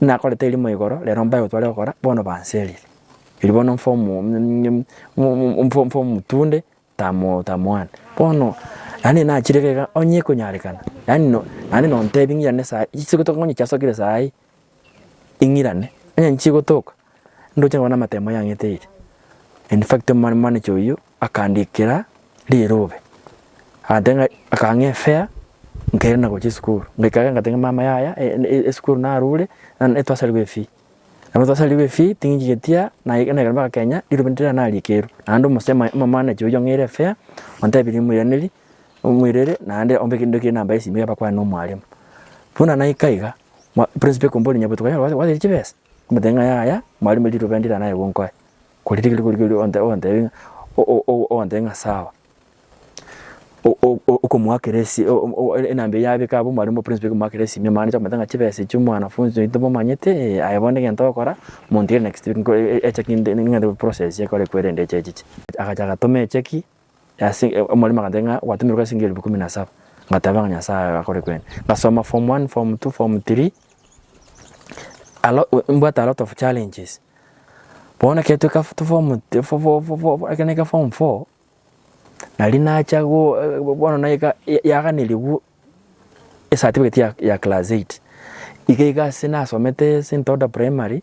nakorete erimo igoro, rero mbae gotwarire gokora, bono banserire. Riria bono mfa omo mfa mfa omotunde tamo tamoana. Bono yaani nachire iga onye ekonyarekana, yaani no naende nontebi ng'irane saii, chisiko tokonya chiasokire saii, ing'irane, onye nichigotoka. Ndoche nonya namatemo yang'eteire. In fact omomani manager oyio akandikera rirobe. Agantebia ng'a akang'a efare nkairana na gochia esukuru. Ngoika iga ngatebia ng'a mama yaya esukuru narure naro etwasarigwe efee. Nabo twasarigwe efee ting'enchigetie aa naye naye mpaka Kenya rirobe ndire narikeirwe. Naende omosemi omomanager oyio ang'eire efare ontebirie moiranerie omoirere naende ombe kende kere enamba yesimi abakwane nomwarimu. Buna naika iga, ma principal ekombora onye botuko yao gwateire chibesa? Omotebia ng'a, Yaya, mwarimo riroba ndire naye gonkoe. Korende ekero rikorikori ogotebia ogotebia ng'a sawa. Okomoakera esi enamba eyio yabeka abwo mwarimo oprinsipal ekomoakera esimi amang'ana acha komotebia ng'a chibesa echio mwanafunzi oito momanyete eh, aye bono egento ogokora montigere next week echeki ng'ende process ekorwe ekwerende echechiche. Agacha agatoma echeki. Ase omorimo agateba ng'a gwatumerwe ase ebigerio ikomi na saba, ngateba ng'a Nyasaye aye akore kwene. Ngasoma form one, form two, form three, mbwate a lot of challenges. Bono ekero tweka form ekero naika form four, nari nacha bono naika yaganerigwa esatifiketi ya class eight. Iga iga ase nasomete since ntoda primary,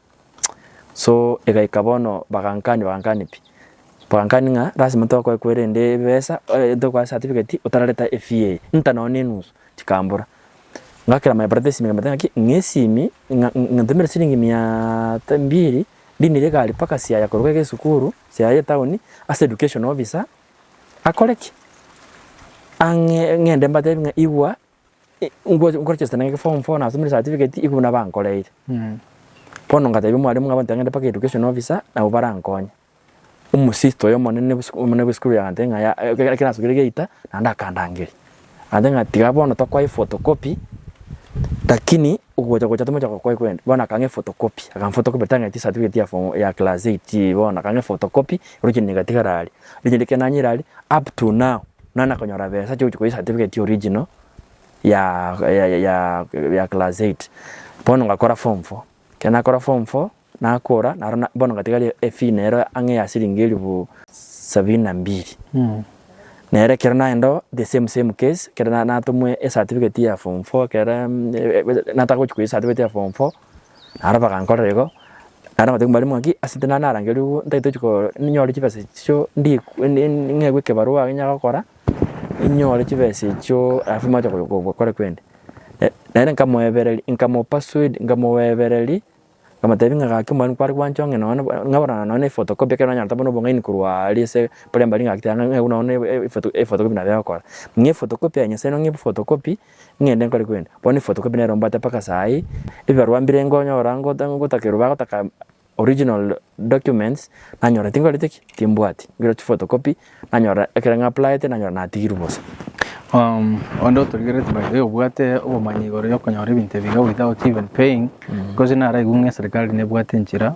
So egaika bono bagankani bagankani pi, bagankani ng'a lasima tokoekwa rende ebesa tokoa certificate otarareta efee eye, nta nonya na enusu, chikambora. Ngakera my brother esimi nkamotebia ng'aki ng'a esimi ng'a ntomere siringi miaaa ta mbiri ndinire egari mpaka Siaya koruga iga esukuru, Siaya etown, ase education officer akore ki? Ang'e ng'ende mbatebie ng'a igwa. nkoregesta nere form four nasomire certificate iko buna bankoreire. Bono ngatebia omwalimu ng'a abanto mpaka education officer nabo barankonye. Omosisto oyo omonene omonene bwa esukuru agantebia ng'a yaya ekero nasubire geita naende akandangeria. Agantebia ng'a tiga bono tokwae photocopy lakini ogocha gocha tomoche gokwae korende bono akang'aa ephotocopy akamphotocopy tang'etia certificate ya form ya class eight bono akang'aa ephotocopy original igatigara aria. Rinde rike nanyirari up to now nana konyora besa chia gochia koyia certificate original ya ya class eight bono ngakora form four ekero nakora form four nakora naro bono ngatigaria efee nero ang'e ya siringi elifu sabini na mbili nero ekero nagenda oo the same same case ekero natomwa ecertificate ya form four ekero nataka gochia koyia ecertificate ya form four. Naro bagankorera igo, naende nabatebia mbare ng'a ki ase tina narangerwe ugwo ntatochi koo ninyore chibesa echio ndie ng'egwe ekebarua age nyaga gokora, inyore chibesa echio alafu moche gokora kwende. Naende nkamoebereria nkamopersuade nkamoebereria, nkamotebia ng'a gaki mbwenu kware gwancha ong'e nonye ng'aborana nonye na ephotocopy ekero nanyarete buna obong'aini korwa aria ase primary ngaki taiga ng'a ng'egwe nonye na ephotocopy nabo egokora. Ng'a ephotocopy ya nyasae ning'o ng'a ephotocopy ng'ende nkore kwende. Bono ebifotokopi nero mbwate mpaka saii, ebibarua mbire nkonyora ngote ngotaka erio bagotaka original documents, nanyora tinkorete ki? Timbwati. Mbire chifotokopi, nanyora ekero ng'applyete nanyora natigirwe bosa. Onde otorigereti by the way obwate obomanyi igoro ya okonyora ebinto ebi iga without even paying, because naraigwe ng'a eserikari nebwate enchera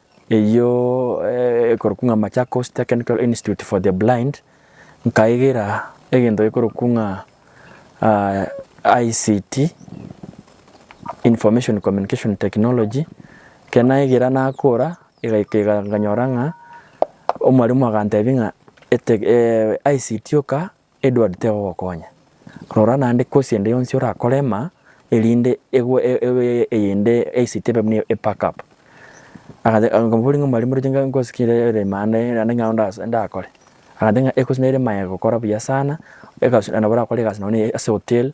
Eyio ekorokwa ng'a Machakos Technical Institute for the Blind, nkaigera egento gekorokwa ng'a ICT, Information Communication Technology, ekero naigera nakora egaika iga nkanyora ng'a omwalimu agantebia ng'a ICT oka. Edward tegogokonya. Rora naende kosi ende yonsi orakore ema erinde egwe eyende eisike ebe buna epack up. Nkamoboria ng'a mwalimu roche nkosi ki ere ime ande naende ng'a nao ndakore. Agantebia ng'a ekosi nere ime aye gokora buya sana, egasi nabo orakore egasi nonye ase hotel,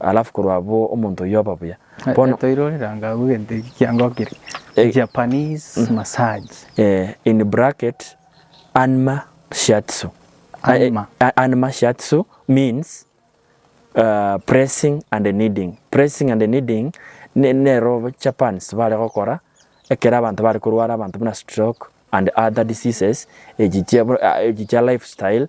Alafu korwa abwo omonto oyio oba buya. Bono Toire oreranga agwo egento eki kiangokire. Eh. Japanese massage. eh, in bracket, anma shiatsu. Anma. Eh, eh, anma shiatsu means uh, pressing and kneading. Pressing and kneading ne- nero Japans bare gokora ekero abanto bare korwara abanto buna stroke and other diseases echi chia, buna- ah, echi chia lifestyle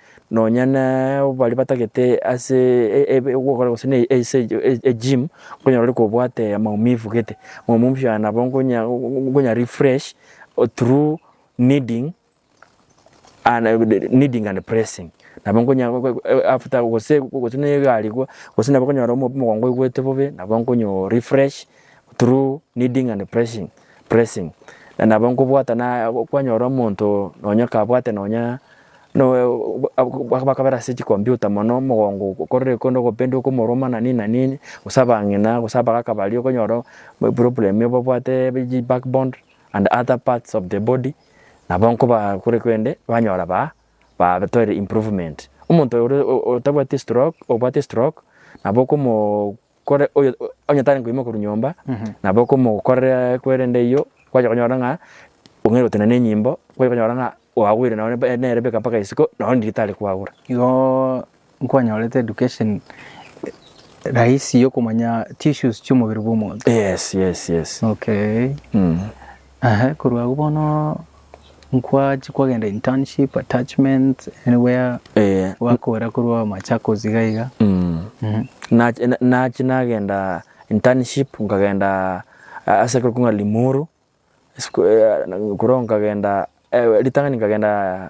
Nonya nabo baria batagete ase gokora gose na ase egym, okonyora ore kobwate amaumivu gete, amaumivu aya nabo nkonya refresh through kneading and pressing. Nabo nkonya after gose na egari iga, gose nabo okonyora omogongo oigwete bobe, nabo nkonyo refresh through kneading and pressing. Pressing. Na nabo nkobwata na kwanyora omonto nonya kabwate nonya bakabera ase chikompiuta mono omogongo okorire kore ogopendwa okomoruma na nini na nini gose abang'ina gose abagaka baria okonyora eproblem ebabwate ye back bond and other parts of the body nabo nkoba kore kende banyora ba batoire improvement. Omonto oyo otabwati stroke obwate stroke nabo okomo. Kore oyo onye tari koima korwa nyomba, nabo okomokorera kwerende eyio kwachaka konyora ng'a ong'aire gotenena enyimbo, kwachaka konyora ng'a oagwire nao nebe nere beka mpaka isiko nao ndiri tari kwagura. Igoo nkwanyorete education rahisi yokomanya tissues chi'omobere bw'omonto. Yes yes yes. Okay. Mh. Eeh korwa agwo bono nkwachia kwagenda internship, attachment, anywhere Eh, gwakora korwa Machakos iga iga. mm. Mhm. Nachi- na- nachi nagenda internship nkagenda a- ase ekero king'a limuru Sku- eh, korwa nkagenda eh, ritang'ani nkagenda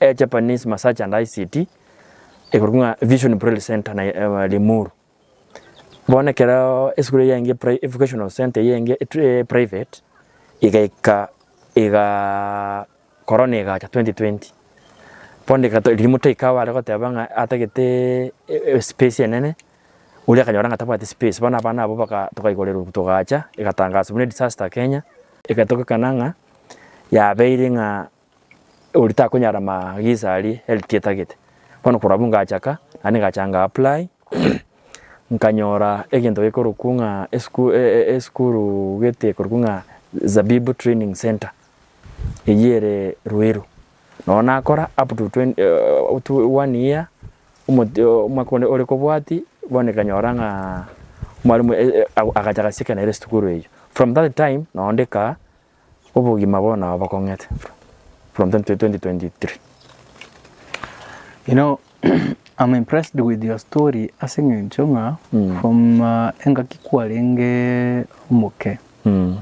A Japanese Massage and ICT ekorwa ng'a Vision Braille Centre na eh, Limuru. Bono ekero esukuru eye enge pri- vocational center eye enge et- eh, private igaika iga corona igacha 2020 bono rika to- riria motoika awo are goteba ng'a atagete e- e- space enene oria akanyora ng'a tabwati space bono abana abwo baka tokaigoreru togacha egatangaswa buna edisaster Kenya, egatogokana ng'a yabeire ng'a. Oria takonyara amaagiso aria health etagete. Bono korwa abwo ngachaka naende ngacha nga apply nkanyora egento gekorokwa ng'a esukuru gete ekorokwa ng'a Zabibu Training Centre eyio ere Ruiru. Noo nakora up to twen one year omwaka onde ore kobwatia bono ekanyora ng'aa mwalimu agacha gasieka nere esukuru eyio. From that time noo ndika. Obogima bono nabo bakong'ete from 2023. You know I'm impressed with your story ase eng'encho ng'a mm. from uh, engaki kwarenge omoke mm.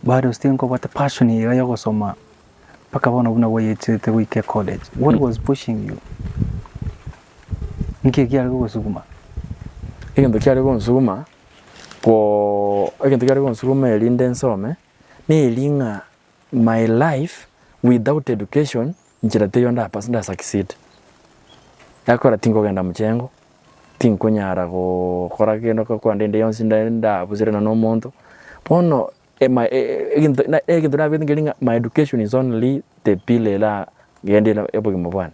bado still nkobwate passion iga yogosoma mpaka bono buna bwayechete goike college what mm. was pushing you nki kiare gogosuguma egento kiare gonsuguma go egento kiare gonsuguma erinde nsome, neri ng'a my life without education nchera teiyo ndapase nda succeed. Ekora tinkogenda mochengo, tinkonyara gokora kende kwande ende yonsi nde ndabuserana na omonto, bono ema egento na egento nabwate nkeria ng'a my education is only the pillar era gende obogima bwane.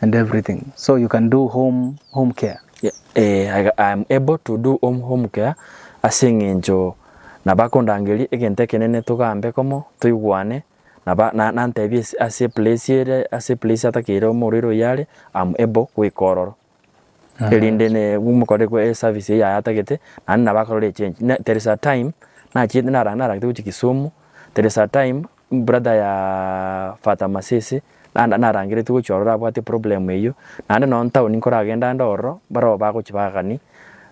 and everything so you can do home home care. Ee, I I am able to do home home care ase eng'encho nabakondangeria egento ekenene togambe komo toigwane naba na nantebie ase ase eplace ere ase eplace atakeire omorwaire oyio are, am able goika ororo. erinde mokore eservice eyio yayatagete naende nabo akarora echange. There is a time nachiete narangete gochia kisumu, there is a time brother ya Fata Masese narangeretie gochia ororo abwate problem eyio, naende nonya town nkoragenda ande ororo mbarogo bagochia bagani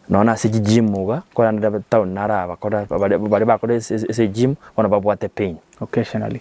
nonya nase chigym iga korende ande town naro abakora baria bakora ase egym bono babwate pain. Occasionally.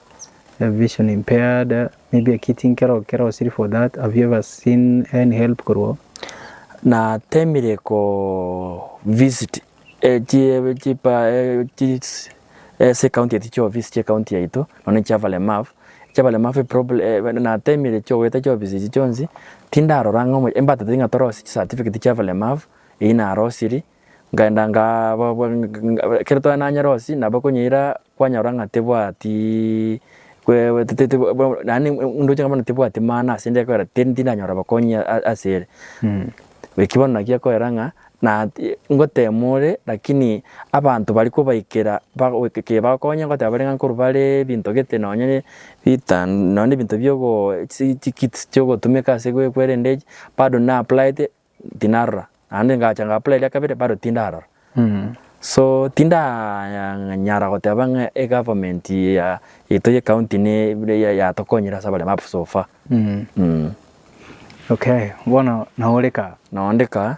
a vision impaired maybe a kid nkero kero was it for that have you ever seen any help korwa natemire ko visit ase county eti chia ofisi chia county yaito nonya na chia abalemavu, chia abalemavu natemire chia goeta chia ofisi echi chionsi tindarora ng'a embatete ng'a torosie chisatifigeti chia abalemavu, eyio narosirie Nkaenda nkababoa ng'a ekero tware na nyarosi nabo konyeira kwanyora ng'a tebwati kwe te- te- te yaani ndoche ng'a bono tebwati maana ase inche ekwera tindi tindanyora obokonyi a- a- ase ere. Eki bono naki ekwera ng'a na ngotema ore lakini abanto baria kobaikera bago keke bagokonye ngoteba bare ng'a nkorwa bare ebinto gete nonye ritan nonye na ebinto biogo chisi chikits chiogotumeka ase gwe kwerende echi bado na applied tinarora, naende ngacha ng'aapply eria kabere bado tindarora. So tindanyara goteba ng'a egovernment ya yaito ye county niga yatokonyire ase abaremi up so far. Okay, bono nao ore kaa? Nao onde kaa,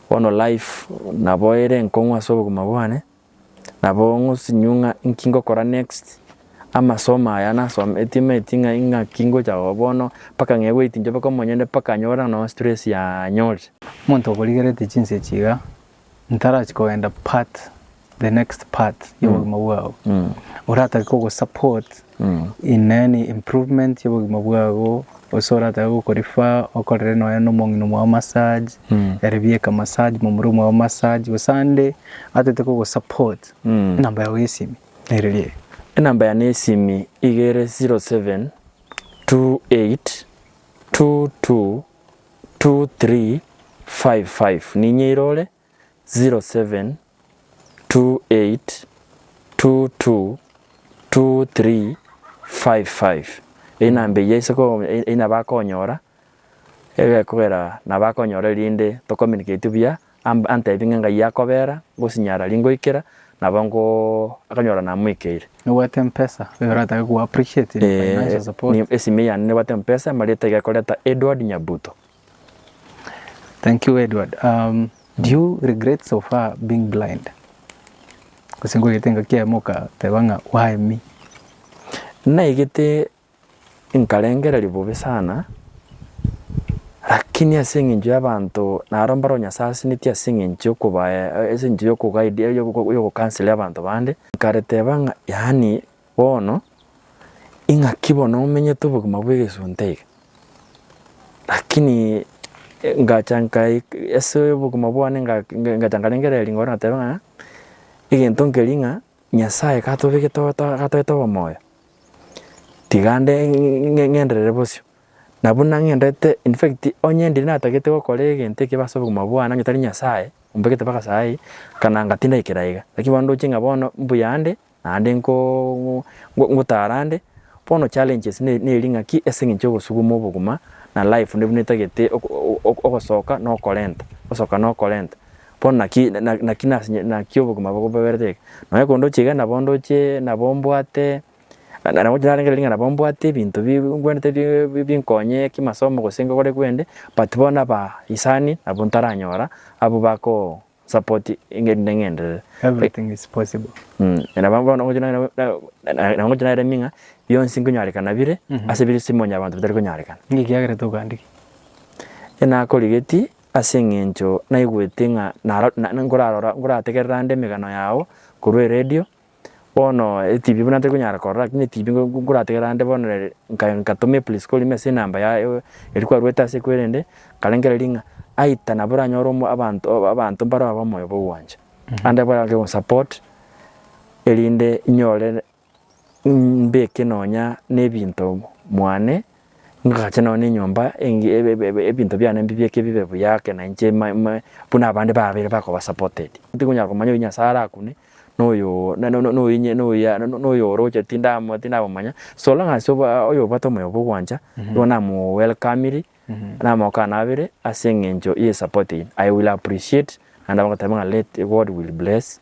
bono life nabo ere enkong'u ase obogima bwane. Nabo ng'osinyiwe ng'a inki ngokora next, amasomo aya nasometie maeti ng'a ing'aki ngocha oo bono, mpaka ng'ee goeti inche mpaka omonyene mpaka anyore noo stress yanyorire. Omonto okorigerete chinsa echi iga, ntarachi kogenda part, the next part, yobogima bwao. Oratake kogosupport In any improvement y'obogima bwabo gose oratabe gokorifer okorere nonya na omong'ina omwao massage ere bieka massage momura omwao massage gose ande atete kogosupport enamba yao y'esimi nere eri eye. Enamba yane y'esimi iga ere 0728222355 ninyeire ore. 0728222355 Eyio enamba eyio ase ko eyio nabo akonyora egekogera nabo akonyora erinde to communicate buya am antebi ng'a ng'ai akobera ngosinyara ri ngoikera nabo ngoo akanyora namoikeire. Nobwate mpesa oyo oratake koappreciatinga financial support. Esime yane nibwate mpesa marieto egekoreta Edward Nyabuto. Thank you Edward. Um, do you regret so far being blind? Gose ngogete ngaki yaye mokateba ng'a why me? naigete nkarengereria bobe sana lakini ase eng'encho y'abanto naro mbare ore nyasae asenetie ase eng'encho yokoba ase eng'encho yokoguide yokokansera abanto bande, nkareteba ng'a yaani Bono, ing'aki bono omenyete obogima bw'egesunte iga? Lakini ngacha nkai ase obogima bwane nga- nga- ngacha nkarengereria ring'oro nateba ng'a, egento nkeri ng'a Nyasaye gatobegete oto gatoete obomoyo, tiga nde ng'e- ng'enderere bosio. Na buna ng'endete infact onye ndiri natagete gokora egento ekibe ase obogima bwane onye tari Nyasaye ombegete mpaka saii, kana ngatinda aikera iga. Lakini bono ndoche ng'a bono mbuya ande, Naende ngotarande, bono challenges neri ng'aki ase eng'encho y'ogosuguma obogima na life nabuna etagete ogosoka na okorenta, gosoka na okorenta. Bono naki naki naki obogima bogobeberete eke. Nonya kondoche iga nabo ndoche nabo mbwate, nabo inche narenge riria nabo mbwate ebinto bi ngwenerete bi binkonye kimasomo gose ngokore gwende but bono abaisani nabo ntaranyora abwo bako support engeri inde ng'enderere. Everything is possible. Mm. Na bamwe bono ngochia nang'ana- na- na- na ngochia naremia ng'a bionsi nkonyarekana bire Mhm. ase bire simonya abanto batari konyarekana. Ninki kiagerete ogandiki? Enakorigeti ase eng'encho naigwete ng'a naro- na- nkorarora nkorategerera ande emegano yao korwa eredio Bono etibi buna ntari konyara korora lakini etibi ngorategera ande bono rende ngatoma eplisko rime ase enamba yaye eri kwaruete ase ekwe rende nkarengera ring'a aita nabo oranyore omo abanto abanto mbare aba omoyo bwa ogwancha. Ande abare ake gosupport erinde nyore mbeke nonya na ebinto mwane. ngagacha nonya na enyomba enge ebe ebinto biane mbibeke bibe buya ake na inche ma ma buna abande babeire bakoba supported. Tikonyara komanya oyio Nyasae arakune, na oyoo na na oyio nye na oyio na na oyio oroche tinda tindamomanya, so long as oba oyo obwate omoyo bwa ogwancha, igo namo welcomiri, namokanabire ase eng'encho ye support eye, I will appreciate naende abagoteba ng'a let God will bless.